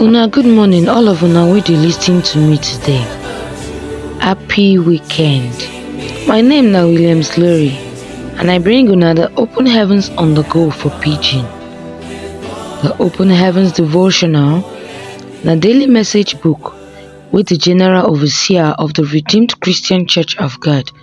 Una good morning all of una wey dey lis ten to me today. Happy weekend. My name na Williams Larry and I bring una the Open Heavens on the Go for Pidgin. The Open Heavens Devotional na daily message book wey the General Overseer of the Redeemed Christian Church of God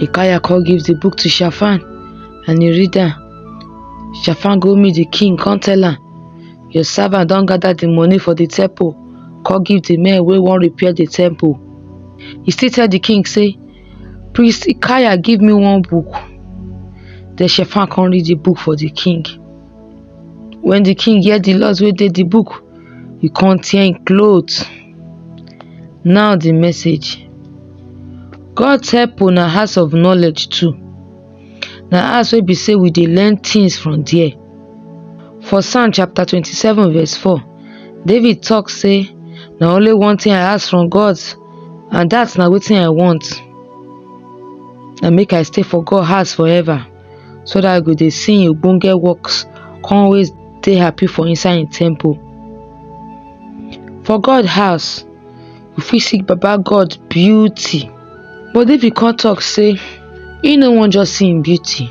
Ikaya come give the book to Shafan and he read am. Shafan go meet the king, come tell am, Your servant don gather the money for the temple, come give the men wey wan repair the temple. He still tell the king say, Priest Ikaya give me one book. Then Shafan come read the book for the king. When the king hear the laws wey dey the book, he come tear him cloth. Now the message. God help una house of knowledge too. Na house wey be say we dey learn things from there. For Psalm chapter 27 verse 4, David talk say, na only one thing I ask from God and that na wetin I want. Na make I stay for God house forever. so dat I go dey see im ogbonge works come always dey happy for inside im temple. For God house, you fit see baba God beauty but if you come talk sey you no wan just see im beauty,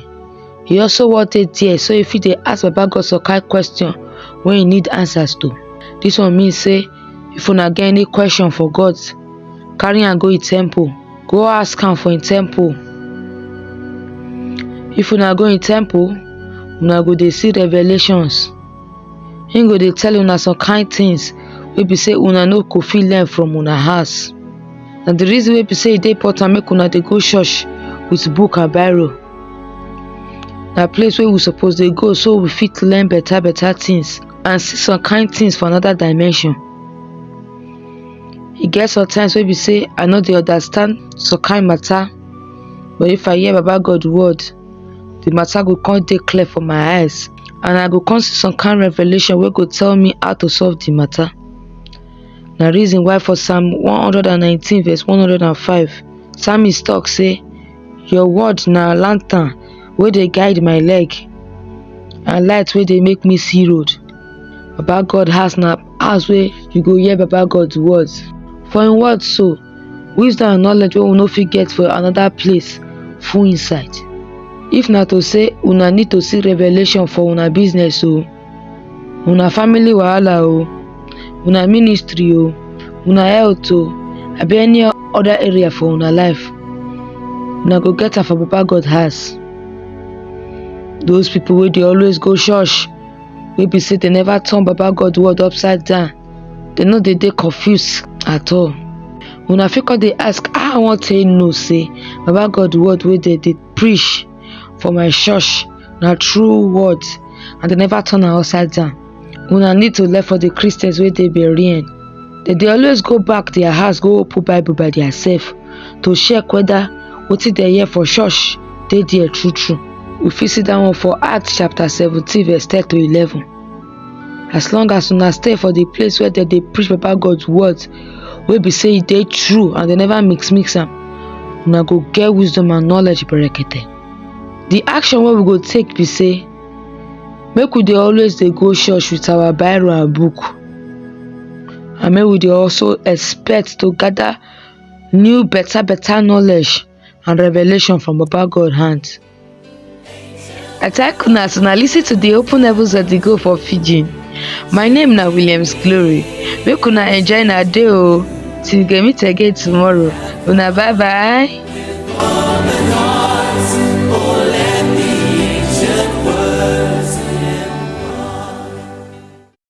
you also wan dey there so you fit dey ask baba God some kind question wey you need answers to, dis one mean sey if una get any question for God, carry am go im temple. Go ask am for im temple If una go im temple, una go dey see revelations. Im go dey tell una some kind things wey be say una no go fit learn from una house. Na the reason wey be say e dey important make una dey go church with book and Bible. Na place wey we suppose dey go so we fit learn better better things and see some kind things for another dimension. e get sometimes wey be say i no dey understand some kind matter but if i hear baba god word the matter go come dey clear for my eyes and i go come see some kind revelation wey go tell me how to solve the matter na reason why for psalm 119 verse 105 psalmist talk say your word na lantern wey dey guide my leg and light wey dey make me see road baba god house na house wey you go hear baba God words. For im word so, wisdom and knowledge wey we no fit get for another place full inside. If na to say una need to see revelation for una business o, una family wahala o, una ministry o, una health o, abi any other area for una life, una go get am for baba God house. Those people wey dey always go church, wey be say dem never turn baba god word upside down dem no dey dey confused at all una fit come dey ask how i wan take know say baba god word wey dem dey preach for my church na true word and dem never turn am upside down una need to learn for the christians wey dey berean dem dey always go back their house go open bible by theirself to check whether wetin dem hear for church dey there true true. We fit see that one for Acts chapter seventeen verse ten to eleven. As long as una stay for the place where dem dey preach Baba God words wey be say e dey true and dem never mix mix am, una go get wisdom and knowledge berekete. The action wey we go take be say make we dey always dey go church with our Bible and book and make we dey also expect to gather new better better knowledge and revelation from Baba God hand. I thank una as una listen to the open heavens of the go for Fiji. My name na Williams Glory. Make una enjoy na day o. Till we go meet again tomorrow. Una bye bye.